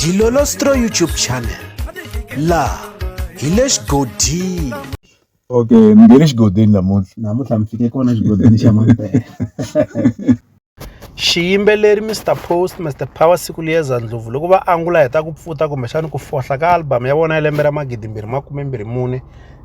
Dilolostro YouTube channel la hi le xigodini okay mi nge le xigodini namuntlha namuntlha mi fike kona xigodini xa mampela xiyimbeleri mr post mr power siku liyeza ndlopfu loko va angula hi ta ku pfuta kumbexani ku fohla ka album ya vona ya lembe ra magidimbirhi makume mbirhi mune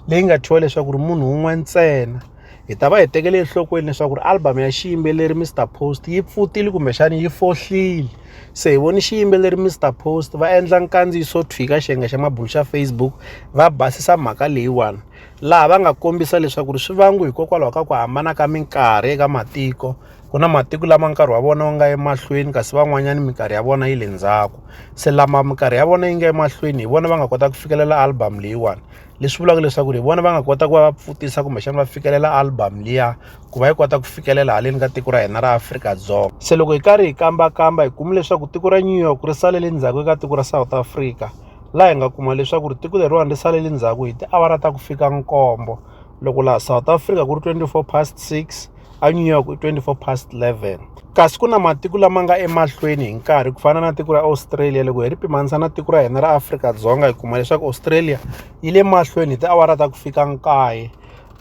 leyi nga thyiwa leswaku ri munhu wun'we ntsena hi ta va hi tekele enhlokweni leswaku ri album ya xiyimbeleri Mr Post yi pfutile kumbexana yi fohlile se hi voni xiyimbeleri Mr Post va endla nkandziyiso thwika xiyenge xa mabulu xa Facebook va basisa mhaka leyiwani laha va nga kombisa leswaku ri swi vangu hikokwalaho ka ku hambana ka minkarhi eka matiko ku na matiko lama nkarhi wa vona wu nga emahlweni kasi van'wanyana minkarhi ya vona yi le ndzhaku se lama minkarhi ya vona yi nga emahlweni hi vona va nga kota ku fikelela album leyiwani leswi vulaka leswaku ri vona va nga kota ku va va pfutisa kumbexana va fikelela album liya ku va yi kota ku fikelela haleni ka tiko ra hina ra Afrika-Dzonga se loko hi karhi hi kambakamba hi kume leswaku tiko ra New York ri salele ndzhaku eka tiko ra South Africa laha hi nga kuma leswaku ri tiko leriwani ri salele ndzhaku hi tiawara ta ku fika nkombo loko laha South Africa ku ri 24 past 6 eNew York i 24 past 11 kasi ku na matiko lama nga emahlweni hi nkarhi ku fana na tiko ra australia loko hi ri pimanisa na tiko ra hina ra afrika-dzonga hi kuma leswaku australia yi le mahlweni hi tiawara ta ku fika nkaye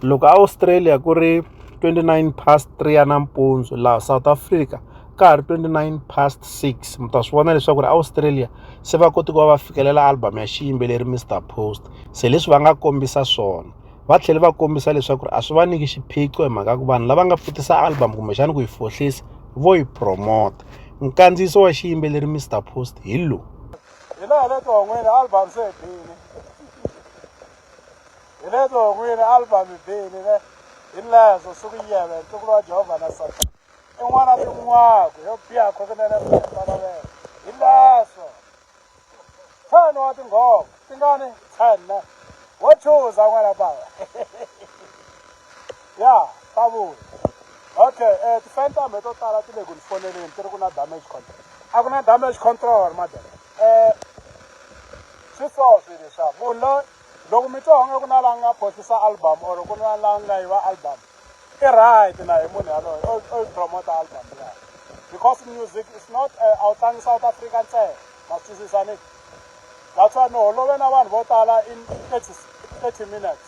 loko australia ku ri 29 past 3 ya nampundzu laha south africa ka ha ri 29 past 6 mi ta swi vona leswaku ri australia se va koti ku va va fikelela album ya xiyimbeleri mr post se leswi va nga kombisa swona va tlhele va kombisa leswaku a swi va nyiki xiphiqo hi mhaka ku vanhu lava nga pfutisa album kumbexana ku yi fohlisa vo yi promota nkandziyiso wa xiyimbeleri mr post hi lowu hi laha le tihon'wini album se bini hi le tihon'wini album bini ne hi lezo suku yiyebe ntukulu wa jehovha na satana i n'wana tin'waku yo biha khokunene mfana wena hi lezo Ntlhanu wa tinghoma ti nga ni ntlhanu wo chuza n'wana bava ya ta vuya okay um eh, ti-fan ta mhe to tala ti le ku ni foneleni ti ri ku na damage control a ku na damage control madam um eh, swi so swi leswa munhu loyi loko mi twa onge ku na la nga phosisa album or ku na la nga yiva album Ke right na hi munhu yaloyo o o promote album ya. Because music is not uh, a wu tlangi South Africa ntsena. Ma twisisa ni? That's why no holove na vanhu vo tala in 30 30 minutes.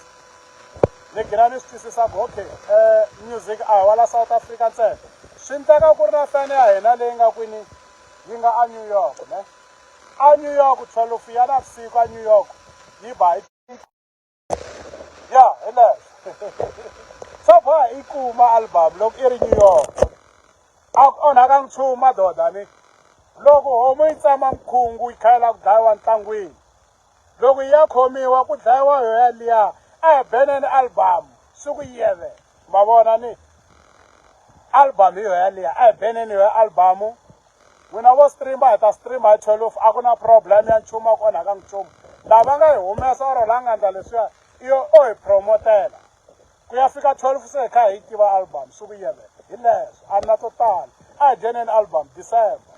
Ni gina ni swi twisisa ku okay, uh, music a hi wala South Africa ntsena. Swi nteka ku ri na fan ya hina leyi nga kwini yi nga a New York, ne? A New York 12 ya navusiku a New York yi ba hi ya hi leswo swa boha i kuma album loko i ri new york a ku onhaka nchumu madoda ni loko homu yi tsama mkhungu yi khayela ku dlayiwa ntlangwini loko yi ya khomiwa ku dlayiwa yo yaliya a hi beneni album siku yeve ma vona ni album hi yo yaliya a hi beneni yo albamu n'wina vo streama hi ta streama hi twelve a ku na problem ya nchumu a ku onhaka nchumu lava nga hi humesa or la nga ndla leswiya iyo o hi promotela ku ya fika twelve se hi kha hi tiva album swi vuyele hi leswo a ri na to tala a hi dyeneni album december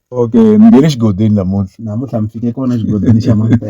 okay ni nge ni xigodini namuntlha namuntlha mi fike kona xigodini xa n'wambe.